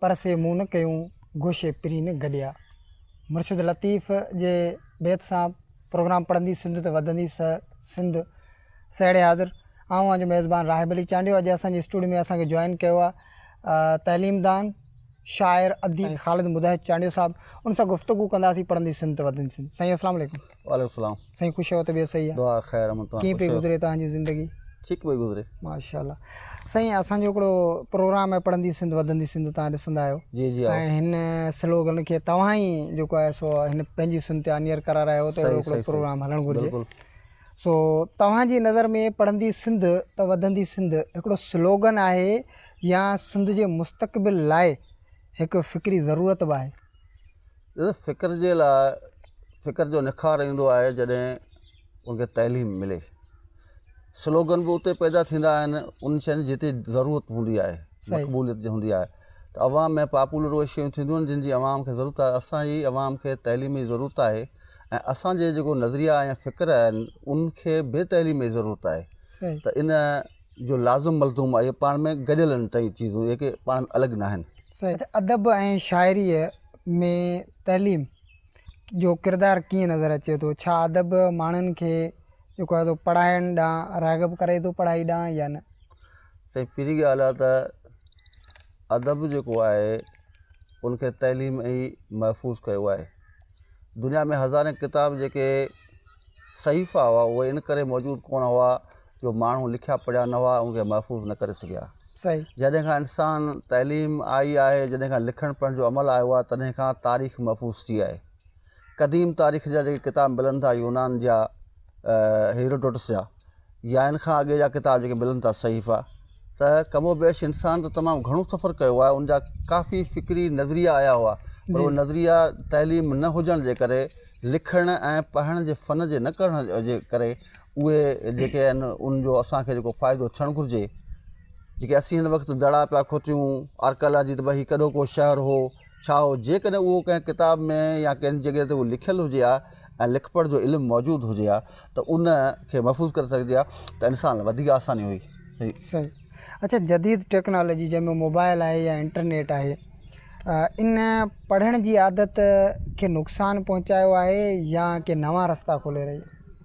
پر سي مون نه ڪيون گوشي پرين گڏيا. مرشد لطيف جي بيت سان پروگرام پڙهندي سنڌ ته وڌندي سه سنڌ سهيڙي حاضر آئون آهيان جو ميزبان راهب علي چانڊيو اڄ اسان جي اسٽوڊيو ۾ اسان کي جوائن ڪيو آهي تعليم دان شاعر اديب خالد مجاهد چانڊيو صاحب ان سان گفتگو ڪنداسين پڙهندي سنڌ ته وڌندي سنڌ سائين السلام عليڪم وعليڪم السلام سائين خوش آهيو طبيعت صحيح آهي دعا خير امن تون ڪيئن پئي گذري توهان جي زندگي ٺيڪ پئي گذري ماشاء الله سائين اسان جو هڪڙو پروگرام آهي پڙهندي سنڌ وڌندي سنڌ توهان ڏسندا آهيو جي جي ۽ هن سلوگن کي توهان ئي جيڪو آهي سو هن پنهنجي سن تي آنيئر ڪرار آهيو ته اهڙو هڪڙو پروگرام هلڻ گهرجي سو توهان جي نظر ۾ پڙهندي سنڌ ته وڌندي سنڌ هڪڙو سلوگن آهي يا سنڌ جي مستقبل لاء هڪ فڪري ضرورت به آهي فڪر جي لاء فڪر جو نکار ايندو آهي جڏهن ان کي تعليم ملي سلوگن به اتي پيدا ٿيندا آهن ان شين جي جتي ضرورت هوندي آهي مقبوليت جي هوندي آهي ته عوام ۾ پاپولر اهي شيون ٿينديون آهن جن جي عوام کي ضرورت آهي اسان جي عوام کي تعليمي ضرورت آهي ۽ اسان جي جيڪو نظريا ۽ فڪر آهن ان کي بي تعليمي ضرورت آهي ته ان جو لازم ملزوم آهي اهي پاڻ ۾ گڏيل آهن ٽئي چيزون اهي ڪي پاڻ ۾ الڳ ناهن. صحيح. ادب ۽ شاعريء ۾ تعليم جو ڪردار ڪيئن نظر اچي ٿو؟ ڇا ادب ماڻهن کي جيڪو آهي سو پڙهائڻ ڏانهن راغب ڪري ٿو پڙهائي ڏانهن يا نه؟ سائين پهرين ڳالهه آهي ته ادب جيڪو آهي ان کي تعليم ئي محفوظ ڪيو آهي دنيا ۾ هزارين ڪتاب جيڪي صحيفا هئا اهي ان ڪري موجود ڪونه هئا جو ماڻهو لکيا پڙهيا نه هئا ان کي محفوظ نه ڪري سگهيا. جڏهن کان انسان تعليم آئي آهي، جڏهن کان لکڻ پڙهڻ جو عمل آيو آهي تڏهن کان تاريخ محفوظ ٿي آهي. قديم تاريخ جا جيڪي ڪتاب ملن ٿا يونان جا هيروڊوٽس جا يا ان کان اڳي جا ڪتاب جيڪي ملن ٿا صحيفا ته ڪم و بيش انسان ته تمام گهڻو سفر ڪيو آهي ان جا ڪافي فڪري نظريا آيا هئا پر اهي نظريا تعليم نه هجڻ جي ڪري لکڻ ۽ پڙهڻ جي فن جي نه ڪرڻ جي ڪري اهي جيڪي آهن ان جو اسان کي جيڪو فائدو ٿيڻ گهرجي جيڪي اسين هن وقت دڙا پيا کوٽيون آرڪيالاجي ته ڀئي هي ڪڏو ڪو شهر هو ڇا هو جيڪڏهن اهو ڪنهن ڪتاب ۾ يا ڪنهن جڳهه تي اهو لکيل هجي ها ۽ لک پڙهه جو علم موجود هجي ها ته ان کي محفوظ ڪري سگهجي ها ته انسان لاء وڌيڪ آساني هئي صحيح اچا جديد ٽيڪنالاجي جنهن ۾ موبائل آهي يا انٽرنيٽ آهي ان پڙهڻ جي عادت کي نقصان پهچايو آهي يا ڪي نوان رستا کولي رهي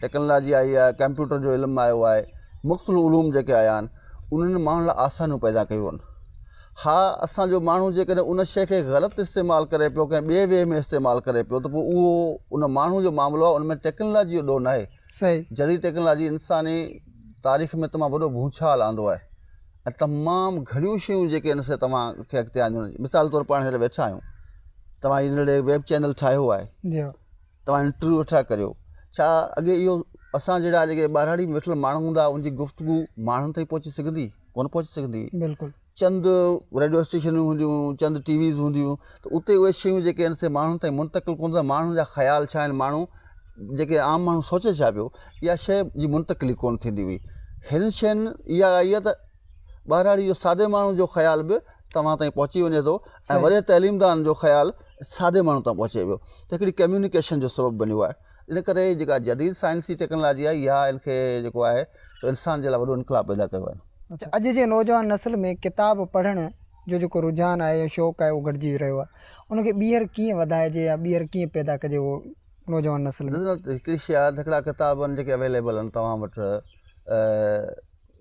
ٽيڪنالاجي آئي آهي، ڪمپيوٽر جو علم آيو آهي، مختلف علوم جيڪي آيا آهن، انهن ماڻهن لاء آسانيون پيدا ڪيون آهن. ها اسان جو ماڻهو جيڪڏهن ان شيء کي غلط استعمال ڪري پيو، ڪنهن ٻئي وي ۾ استعمال ڪري پيو ته پوء اهو ان ماڻهو جو معاملو آهي، ان ۾ ٽيڪنالاجي جو ڏوهه ناهي. جديد ٽيڪنالاجي انساني تاريخ ۾ تمام وڏو ڀونچال آندو آهي ۽ تمام گهڻيون شيون جيڪي ان سان توهان کي اڳتي آنديون، مثال طور پاڻ هينئر ويٺا آهيون، توهان هي نڙي ويب چينل ٺاهيو آهي، توهان انٽرويو ويٺا ڪريو ڇا اڳي اهو اسان جهڙا جيڪي ٻاراڙي ۾ ويٺل ماڻهو هوندا ان جي گفتگو ماڻهن تائين پهچي سگهندي ڪونه پهچي سگهندي هئي بلڪل چند ريڊيو اسٽيشنون هونديون هيون چند ٽي ويز هونديون هيون ته اتي اهي شيون جيڪي آهن سي ماڻهن تائين منتقل ڪونه ٿينديون ماڻهن جا خيال ڇا آهن ماڻهو جيڪي عام ماڻهو سوچي ڇا پيو اها شيء جي منتقلي ڪونه ٿيندي هئي هن شين اها آئي آهي ته ٻهراڙي جو سادي ماڻهو جو خيال به توهان تائين پهچي وڃي ٿو ۽ وڏي تعليمدان جو خيال سادي ماڻهو تائين پهچي ويو ته هڪڙي ڪميونيڪيشن جو سبب بنيو آهي ان ڪري جيڪا جديد سائنسي ٽيڪنالاجي آهي اها ان کي جيڪو آهي سو انسان جي لاء وڏو انقلاب پيدا ڪيو آهي اچا اڄ جي نوجوان نسل ۾ ڪتاب پڙهڻ جو جيڪو رجحان آهي يا شوق آهي اهو گهٽجي رهيو آهي ان کي ٻيهر ڪيئن وڌائجي يا ٻيهر ڪيئن پيدا ڪجي اهو نوجوان نسل ۾ هڪڙي شي آهي ته هڪڙا ڪتاب آهن جيڪي اويليبل آهن توهان وٽ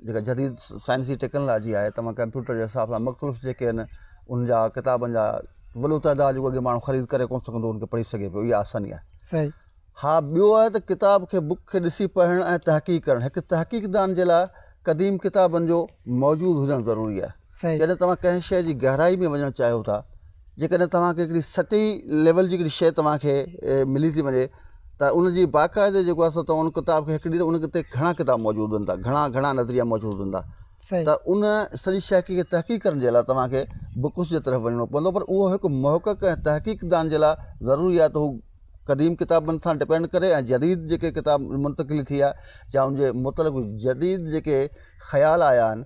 جيڪا جديد سائنسي ٽيڪنالاجي آهي تمام ڪمپيوٽر جي حساب سان مختلف جيڪي آهن ان جا ڪتابن جا وڏو تعداد جيڪو اڳي ماڻهو خريد ڪري ڪونه سگهندو ان کي پڙهي سگهي پيو اها آساني آهي صحيح ها ٻيو آهي ته ڪتاب کي بک کي ڏسي پڙهڻ ۽ تحقيق ڪرڻ هڪ تحقيق دان جي لاء قديم ڪتابن جو موجود هجڻ ضروري آهي سائين جڏهن توهان ڪنهن شيء جي گهرائي ۾ وڃڻ چاهيو ٿا جيڪڏهن توهان کي هڪڙي سطحي ليول جي هڪڙي شيء توهان کي ملي ٿي وڃي ته ان جي باقاعدي جيڪو آهي سو توهان ان ڪتاب کي هڪڙي ته ان تي گهڻا ڪتاب موجود هوندا گهڻا گهڻا نظريا موجود هوندا سائين ته ان سڄي شيء کي تحقيق ڪرڻ جي لاء توهان کي بڪس جي طرف وڃڻو پوندو پر اهو هڪ محقق ۽ تحقيق دان جي لاء ضروري آهي ته هو قديم ڪتابن سان ڊپينڊ ڪري ۽ جديد جيڪي ڪتاب منتقلي ٿي آهي جا ان جي متعلق جديد جيڪي خيال آيا آهن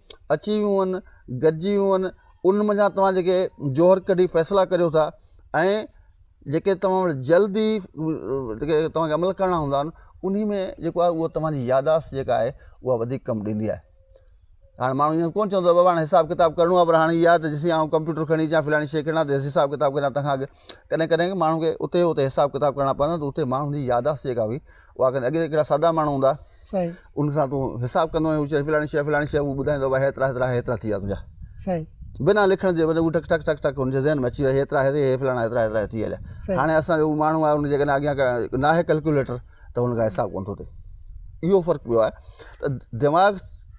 اچي ويون هن گڏجي ويون هن ان منجهان توهان جيڪي جوهر ڪڍي فيصلا ڪريو ٿا ۽ جيڪي توهان وٽ جلد ئي جيڪي توهان کي عمل ڪرڻا هوندا آهن انهي ۾ جيڪو آهي اهو توهان جي ياداشت جيڪا آهي اها وڌيڪ ڪم ڏيندي آهي هاڻي ماڻهو ائين ڪونه چوندو بابا هاڻي حساب ڪتاب ڪرڻو آهي پر هاڻي اها ته جيسين آئون ڪمپيوٽر کڻي اچان فلاني شيء کڻان ته حساب ڪتاب ڪريان تنهن کان اڳ ڪڏهن ڪڏهن ماڻهو کي اتي اتي حساب ڪتاب ڪرڻا پوندا آهن ته اتي ماڻهن جي ياداشت جيڪا هئي اها ڪنهن اڳي ڪهڙا سادا ماڻهو هوندا ان سان تون حساب ڪندو ۽ چئين فلاڻي شيء فلاڻي شيء هو ٻڌائيندو بابا هيترا هيترا هيترا ٿي ويا تنهنجا بنا لکڻ جي هو ٽڪ ٽڪ ٽڪ ٽڪ ان جي ذهن ۾ اچي ويا هيترا هي هي فلاڻا هيترا هيترا ٿي هليا هاڻي اسان جو ماڻهو آهي ان جي ڪن اڳيان ڪا ناهي ڪلڪيوليٽر ته هن کان حساب ڪونه ٿو ٿئي اهو فرق پيو آهي ته دماغ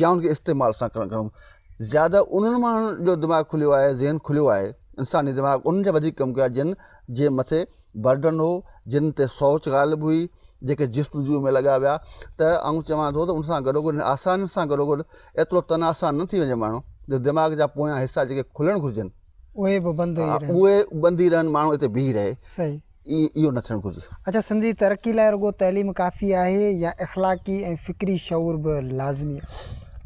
يا ان کي استعمال سان ڪرڻ گهربو زياده انهن ماڻهن جو دماغ کليو آهي ذهن کليو آهي انساني دماغ انهن جا وڌيڪ ڪم ڪيو آهي جن جي مٿي برڊن هو جن تي سوچ غالب هئي جيڪي جستجو ۾ لڳا ويا ته آئون چوان ٿو ته ان سان گڏو گڏ آسانين سان گڏو گڏ ايترو تن آسان نه ٿي وڃي ماڻهو جو دماغ جا پويان حصا جيڪي کلڻ گهرجن اهي به بند اهي بندي رهن ماڻهو اتي بيهي رهي اهو نه ٿيڻ گهرجي. اڇا سنڌ جي ترقي لاء رڳو تعليم ڪافي آهي يا اخلاقي ۽ فڪري شعور به لازمي آهي؟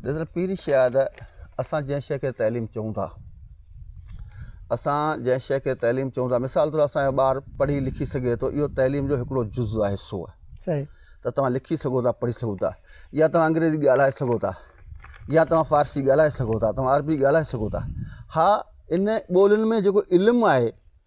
ڏسو پهرين شيء آهي ته اسان جنهن شيء کي تعليم چئون ٿا اسان جنهن شيء کي تعليم چئون ٿا مثال طور اسان جو ٻار پڙهي لکي سگهي ٿو اهو تعليم جو هڪڙو جز آهي حصو آهي صحيح ته توهان لکي سگهو ٿا پڙهي سگهو ٿا يا توهان انگريزي ڳالهائي سگهو ٿا يا توهان فارسي ڳالهائي سگهو ٿا توهان عربي ڳالهائي سگهو ٿا ها ان ٻولين ۾ جيڪو علم آهي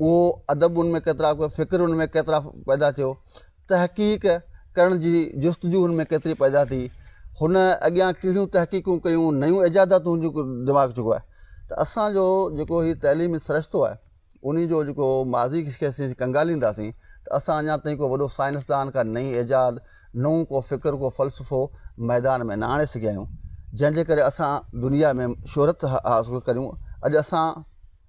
اهو ادب ان ۾ ڪيترا ڪيو، فڪر ان ۾ ڪيترا پيدا ٿيو، تحقيق ڪرڻ جي جستجو ان ۾ ڪيتري پيدا ٿي، هن اڳيان ڪهڙيون تحقيقون ڪيون، نيون ايجاداتون جيڪو دماغ چڪو آهي ته اسان جو جيڪو هي تعليمي سرشتو آهي انهي جو جيڪو ماضي کي اسين ڪنگالينداسين ته اسان اڃان تائين ڪو وڏو سائنسدان ڪا نئين ايجاد نئون ڪو فڪر ڪو فلسفو ميدان ۾ نه آڻي سگهيا آهيون جنهن جي ڪري اسان دنيا ۾ شهرت حاصل ڪريون اڄ اسان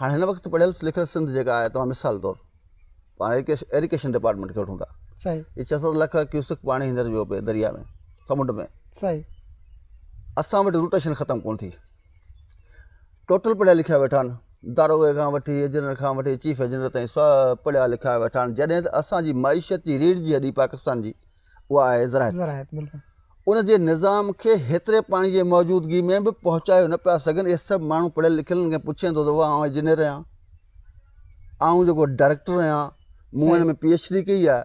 هاڻي هن وقت پڙهيل لکيل سنڌ جيڪا آهي توهان مثال طور پاڻ ايريڪيشن ڊپارٽمينٽ کي وٺون ٿا صحيح هي ڇهه ست لک ڪيوسڪ پاڻي هينئر ويو پئي دريا ۾ سمنڊ ۾ صحيح اسان وٽ روٽيشن ختم ڪون ٿي ٽوٽل پڙهيا لکيا ويٺا آهن داروغي کان وٺي ايجنر کان وٺي چيف ايجنر تائين سڀ پڙهيا لکيا ويٺا آهن جڏهن ته اسانجي معيشت جي ريڙھ جي هڏي پاڪستان جي اها آهي زراعت. زراعت بلڪل. ان جي نظام کي هيتري پاڻي جي موجودگي ۾ به پهچايو نه پيا سگهن. اهي سڀ ماڻهو پڙهيل لکيل کي پڇين ٿو ته واهه آئون انجنيئر آهيان. آئون جيڪو ڊائريڪٽر آهيان. مون هن ۾ پي ايڇ ڊي ڪئي آهي.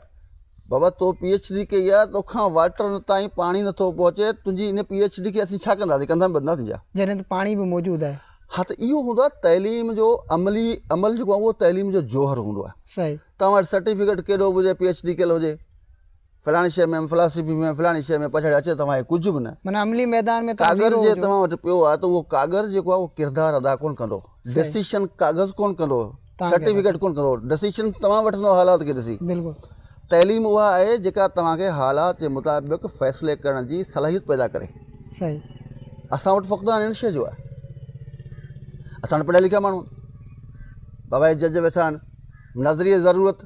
بابا تو پي ايڇ ڊي ڪئي آهي توکان واٽر تائين پاڻي نٿو پهچي تنهنجي ان پي ايڇ ڊي کي اسين ڇا ڪنداسين ڪنڌ ۾ ٻڌنداسين ڇا. جڏهن ته پاڻي به موجود آهي. ها ته اهو هوندو آهي تعليم جو عملي عمل جيڪو آهي اهو تعليم جو جوهر هوندو آهي. صحيح. توهان وٽ سرٽيفڪيٽ ڪيڏو به هجي پي ايڇ ڊي ڪيل هجي. فلاڻي شيء ۾ فلاسفي ۾ فلاڻي شيء ۾ پڇاڙي اچي توهان کي ڪجهه به نه معنيٰ عملي ميدان ۾ ڪاغر جي توهان وٽ پيو آهي ته اهو ڪاغر جيڪو آهي اهو ڪردار ادا ڪونه ڪندو ڊسيشن ڪاغذ ڪونه ڪندو سرٽيفڪيٽ ڪونه ڪندو ڊسيشن توهان وٺندو حالات کي ڏسي تعليم اها آهي جيڪا توهان کي حالات جي مطابق فيصلي ڪرڻ جي صلاحيت پيدا ڪري صحيح اسان وٽ فقدان هن شيء جو آهي اسان وٽ پڙهيا لکيا ماڻهو بابا جج ويٺا آهن نظريه ضرورت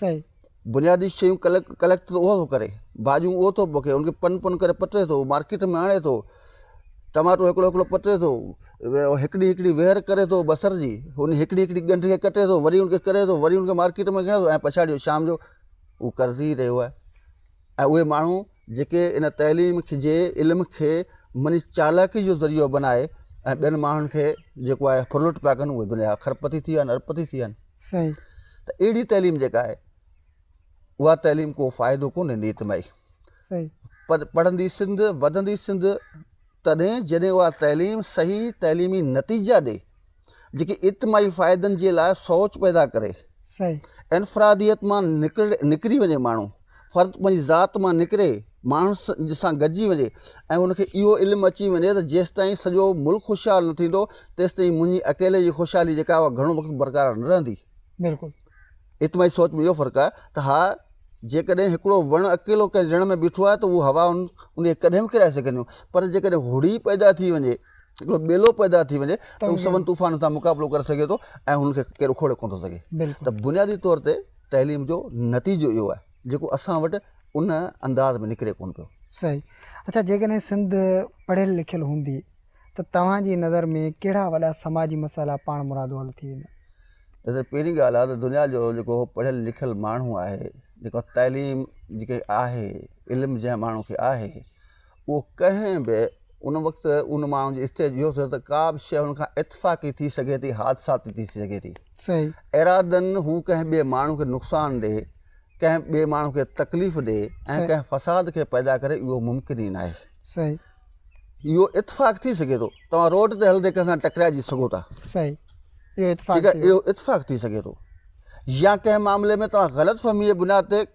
سائين. بنيادي شيون ڪليڪٽ ته اهو ٿو ڪري، ڀاڄيون اهو ٿو پوکي، ان کي پن پن ڪري پٽي ٿو، مارڪيٽ ۾ آڻي ٿو، ٽماٽو هڪڙو هڪڙو پٽي ٿو، هڪڙي هڪڙي ويهر ڪري ٿو بصر جي، ان هڪڙي هڪڙي ڳنڍ کي ڪٽي ٿو، وري ان کي ڪري ٿو، وري ان کي مارڪيٽ ۾ کڻي ٿو ۽ پڇاڙيء جو شام جو هو ڪري رهيو آهي ۽ اهي ماڻهو جيڪي ان تعليم کي جي علم کي مني چالاڪي جو ذريعو بنائي ۽ ٻين ماڻهن کي جيڪو آهي ڦرلٽ پيا ڪن اهي دنيا جا کر پتي ٿي ويا آهن ارب پتي ٿي ويا آهن. صحيح. ته اهڙي تعليم جيڪا آهي اها تعليم ڪو فائدو ڪونهي نيت مئي. صحيح. پر پڙهندي سنڌ وڌندي سنڌ تڏهن جڏهن اها تعليم صحيح تعليمي نتيجا ڏي جيڪي اجتماعي فائدن جي لاء سوچ پيدا ڪري. صحيح. انفراديت مان نڪري وڃي ماڻهو. فرد پنهنجي ذات مان نڪري ماڻهن سان گڏجي وڃي ۽ ان کي اهو علم اچي وڃي ته جيستائين سڄو ملڪ خوشحال نه ٿيندو تيستائين منهنجي اڪيلي جي خوشحالي جيڪا اها گهڻو وقت برقرار نه رهندي بلڪل اتماعي سوچ ۾ اهو فرق آهي ته ها جيڪڏهن هڪڙو وڻ اڪيلو ڪنهن جڻ ۾ بيٺو آهي ته اهو هوائون ان کي ڪڏهن به ڪرائي سگهنديون پر جيڪڏهن هڙي پيدا ٿي وڃي هڪڙو ٻيلو پيدا ٿي وڃي ته هو سون طوفانن سان مقابلو ڪري سگهي ٿو ۽ هن کي ڪير اکوڙي ڪونه ٿو سگهي ته بنيادي طور تي تعليم جو نتيجو اهو آهي جيڪو اسان وٽ ان انداز ۾ نڪري ڪونه پيو. صحيح اڇا جيڪڏهن سنڌ پڙهيل لکيل هوندي ته توهان جي نظر ۾ ڪهڙا وڏا سماجي مسئلا پاڻ مرادو حل ٿي ويندا؟ ڏسو پهرين ڳالهه آهي ته دنيا جو جيڪو پڙهيل لکيل ماڻهو آهي جيڪو تعليم جيڪي آهي علم جنهن ماڻهو کي آهي اهو ڪنهن به ان وقت ان ماڻهو جي اسٽيج اهو ٿيو ته ڪا به شيء ان کان اتفاقي ٿي سگهي ٿي حادثاتي ٿي سگهي ٿي صحيح ارادن هو ڪنهن ٻئي ماڻهو کي نقصان ڏئي ڪنهن ٻئي ماڻهو کي تڪليف ڏئي ۽ ڪنهن فساد کي پيدا ڪري اهو ممڪن ئي ناهي صحيح اهو اتفاق ٿي سگهي ٿو توهان روڊ تي هلندي ڪنهن سان ٽڪرائجي سگهو ٿا صحيح اهو اتفاق اهو اتفاق ٿي سگهي ٿو يا ڪنهن معاملي ۾ توهان غلط فهمي جي بنياد تي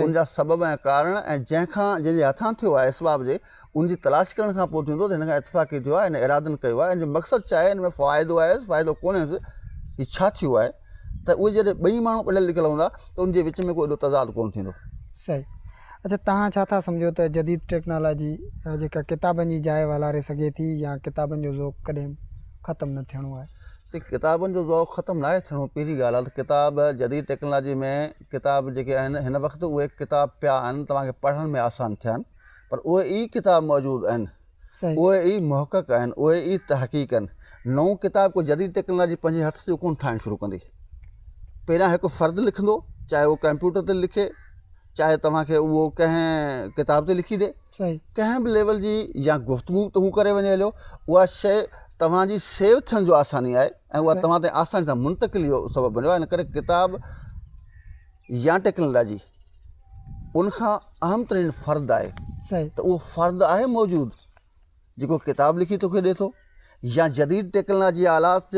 ان جا سبب ۽ ڪارڻ ۽ جنهن کان جنهن جي هٿان ٿيو آهي اسباب جي ان جي تلاش ڪرڻ کان پوء ٿيندو ته هن کان اتفاقي ٿيو آهي هن ارادن ڪيو آهي هن جو مقصد ڇا آهي هن ۾ فائدو آهيس فائدو ڪونهيس هي ڇا ٿيو آهي ته اهي جڏهن ٻئي ماڻهو پڙهيل لکيل هوندا ته ان جي وچ ۾ ڪو ايڏو تضاد ڪونه ٿيندو. صحيح اڇا توهان ڇا ٿا سمجهو ته جديد ٽيڪنالاجي جيڪا ڪتابن جي جاء والاري سگهي ٿي يا ڪتابن جو ذوق ڪڏهن ختم نه ٿيڻو آهي. ڪتابن جو ذوق ختم ناهي ٿيڻو پهرين ڳالهه آهي ته ڪتاب جديد ٽيڪنالاجي ۾ ڪتاب جيڪي آهن هن وقت اهي ڪتاب پيا آهن توهان کي پڙهڻ ۾ آسان ٿين پر اهي ئي ڪتاب موجود آهن اهي ئي محقق آهن اهي ئي تحقيق آهن نئون ڪتاب ڪو جديد ٽيڪنالاجي پنهنجي هٿ جو ڪونه ٺاهڻ شروع ڪندي پهريان هڪ فرد لکندو چاهي هو ڪمپيوٽر تي لکي چاهي توهان کي اهو ڪنهن ڪتاب تي لکي ڏي ڪنهن به ليول جي يا گفتگو ته هو ڪري وڃي هليو اها شيء توهان جي سيو ٿيڻ جو آساني آهي ۽ اها توهان تائين آساني سان منتقلي جو سبب بنيو آهي ان ڪري ڪتاب يا ٽيڪنالاجي ان کان اهم ترين فرد آهي ته اهو فرد آهي موجود جيڪو ڪتاب لکي توکي ڏي ٿو يا جديد ٽيڪنلاجي آلات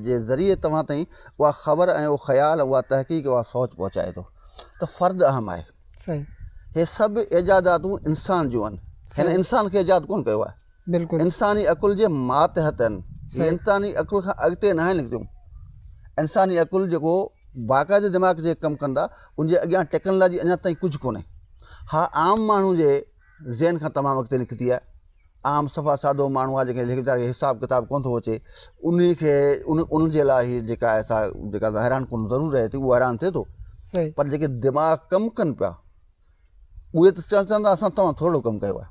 جي ذريعي توهان تائين اها خبر ۽ اهو خيال اها تحقيق اها سوچ پهچائي ٿو ته فرد اهم آهي صحيح هي سڀ ايجاداتون انسان جون آهن هن انسان کي ايجاد ڪون ڪيو آهي بلڪل انساني عقل جي ماتحت آهن انساني عقل کان اڳتي ناهن نڪتيون انساني عقل جيڪو باقاعدي دماغ جي ڪم ڪندا ان جي اڳيان ٽيڪنلاجي اڃا تائين ڪجهه ڪونهي ها عام ماڻهو جي ذهن کان تمام اڳتي نڪتي آهي عام صفا سادو ماڻهو آهي جنهن کي ليکڪار کي حساب ڪتاب ڪو نٿو اچي انهي کي ان جي لاء هي جيڪا آهي سا جيڪا سا حيران ڪن ضرور رهي ٿي اهو حيران ٿئي ٿو پر جيڪي دماغ ڪم ڪن پيا اهي ته چون چون ٿا اسان توهان ٿورڙو ڪم ڪيو آهي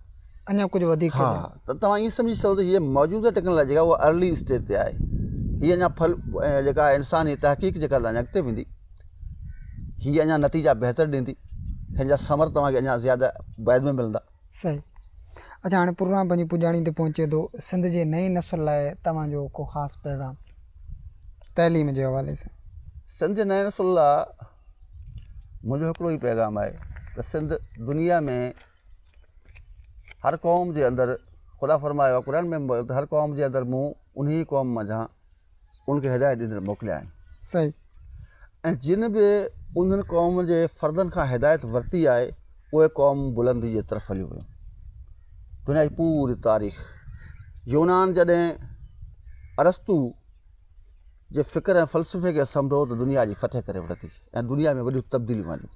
اڃا ڪجهه وڌيڪ ها ته توهان ائين سمجهي سگهو ته هي موجوده ٽيڪنالاجي جيڪا اها ارلي اسٽيج تي آهي هي اڃا ڦل جيڪا انساني تحقيق جيڪا اڃا اڳتي ويندي هي اڃا نتيجا بهتر ڏيندي هن جا ثمر توهان کي اڃا زياده بعد ۾ ملندا. صحيح اچا هاڻي پروگرام پنهنجي پڄاڻي تي پهچي ٿو سنڌ جي نئين نسل لاء توهان جو ڪو خاص پيغام تعليم جي حوالي سان. سنڌ جي نئين نسل لاء منهنجو هڪڙو ئي پيغام آهي ته سنڌ دنيا ۾ هر قوم جي اندر خدا فرمايو آهي قرآن ۾ هر قوم جي اندر مون انهي قوم منجهان ان کي هدايت ڏيندڙ موڪليا آهن. صحيح. ۽ جن به انهن قومن جي فردن کان هدايت ورتي آهي اهي قوم بلندي جي طرف هليون ويون. دنيا جي پوري تاريخ يونان جڏهن ارسطو جي فڪر ۽ فلسفي کي سمجهو ته دنيا جي فتح ڪري ورتي ۽ دنيا ۾ وڏيون تبديليون آنديون.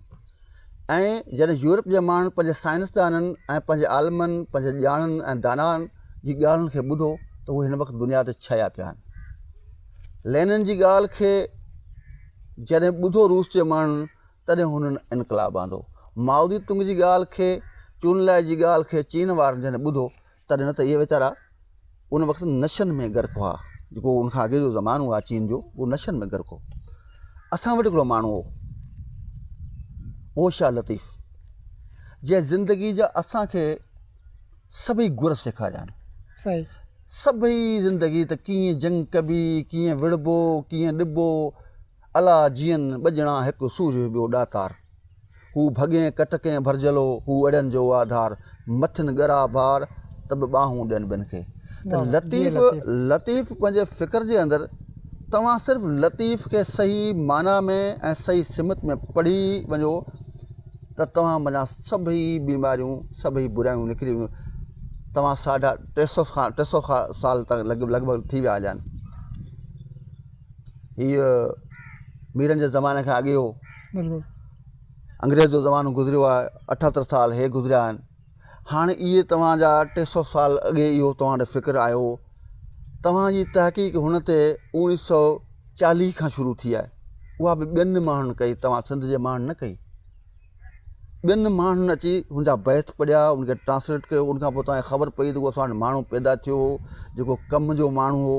ائين جڏهن يورپ جي ماڻهن پنهنجي سائنسدانن ۽ پنهنجي عالمن، پنهنجي ڄاڻن ۽ دانائن جي ڳالهين کي ٻڌو ته هو هن وقت دنيا تي ڇهيا پيا آهن. لينن جي ڳالهه کي جڏهن ٻڌو روس جي ماڻهن تڏهن هنن انقلاب آندو. مائو زي تنگ جي ڳالهه کي، چون لائي جي ڳالهه کي چين وارن جڏهن ٻڌو تڏهن نه ته اهي ويچارا ان وقت نشن ۾ غرق هئا جيڪو ان کان اڳي جو زمانو هو چين جو اهو نشن ۾ غرق هو اسان وٽ هڪڙو ماڻهو هو اوشا لطيف جنهن زندگي جا اسانکي سڀئي گر سيکاريا آهن سڀئي زندگي ته ڪيئن جنگ ڪبي ڪيئن وڙبو ڪيئن ڏبو الا جيئن ٻڄڻا هڪ سورج ٻيو ڏاتار. هو ڀڳين ڪٽڪين ڀرجهلو هو اڙين جو واڌار. مٿن ڳرا بار ته به ٻانهون ڏين ٻين کي. ته لطيف لطيف پنهنجي فڪر جي اندر توهان صرف لطيف کي صحيح معنيٰ ۾ ۽ صحيح سمت ۾ پڙهي وڃو ته توهان منجهان سڀئي بيماريون سڀئي برايون نڪري وينديون. توهان ساڍا ٽي سؤ کان ٽي سؤ سال لڳ ڀڳ ٿي ويا هليا آهن. هيء ميرن جي زماني کان اڳي هو انگريز جو زمانو گذريو آهي اٺهتر سال هي گذريا آهن هاڻي اهي توهان جا ٽي سؤ سال اڳي اهو توهان ڏي فڪر آيو هو توهان جي تحقيق هن تي اوڻي سؤ چاليهه کان شروع ٿي آهي اها به ٻين ماڻهن ڪئي توهان سنڌ جي ماڻهن نه ڪئي ٻين ماڻهن اچي هن جا بيت پڙهيا، ان کي ٽرانسليٽ ڪيو، ان کان پوء توهان کي خبر پئي ته هو اسان وٽ ماڻهو پيدا ٿيو هو، جيڪو ڪم جو ماڻهو هو.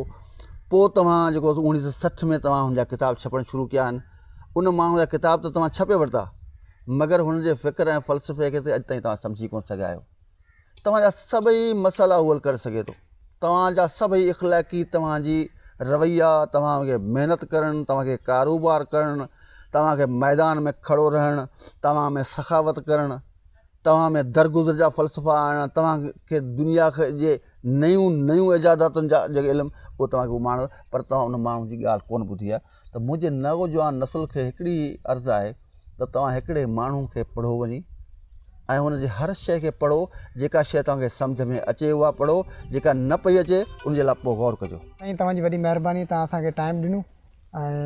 پوء توهان جيڪو اوڻيهه سؤ سٺ ۾ توهان هن جا ڪتاب ڇپڻ شروع ڪيا آهن. ان ماڻهو جا ڪتاب ته توهان ڇپي ورتا، مگر هن جي فڪر ۽ فلسفي کي ته اڄ تائين توهان سمجهي ڪونه سگهيا آهيو. توهان جا سڀئي مسئلا حل ڪري سگهي ٿو توهان جا سڀئي اخلاقي توهان جي رويا توهان کي محنت ڪرڻ توهان کي ڪاروبار ڪرڻ توهان کي ميدان ۾ کڙو رهڻ توهان ۾ سخاوت ڪرڻ توهان ۾ درگذر جا فلسفا آڻڻ توهان کي دنيا جي نيون نيون ايجاداتن جا جيڪي علم اهو توهان کي اهو ماڻڻ پر توهان ان ماڻهو جي ڳالهه ڪونه ٻڌي آهي ته منهنجي نوجوان نسل کي هڪڙي ئي عرض آهي ته توهان هڪڙي ماڻهو کي پڙهو وڃي ۽ هن جي هر شيء کي پڙهو جيڪا شيء توهان کي سمجهه ۾ اچي اها پڙهو جيڪا نه پئي اچي ان جي لاء پوء غور ڪجو. سائين توهان جي وڏي مهرباني توهان اسان کي ٽائيم ڏنو ۽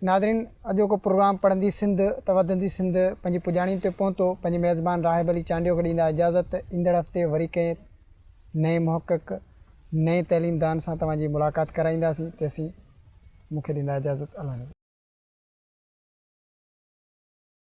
ناظرين اڄوڪو پروگرام پڙهندي سنڌ ته وڌندي سنڌ پنهنجي پڄاڻي تي پهتو پنهنجي ميزبان راهب علي چانڊيو کي ڏيندا اجازت ايندڙ هفتي وري ڪنهن نئين محقق نئين تعليم دان سان توهان جي ملاقات ڪرائينداسين تيسين مون کي ڏيندا اجازت الحمد.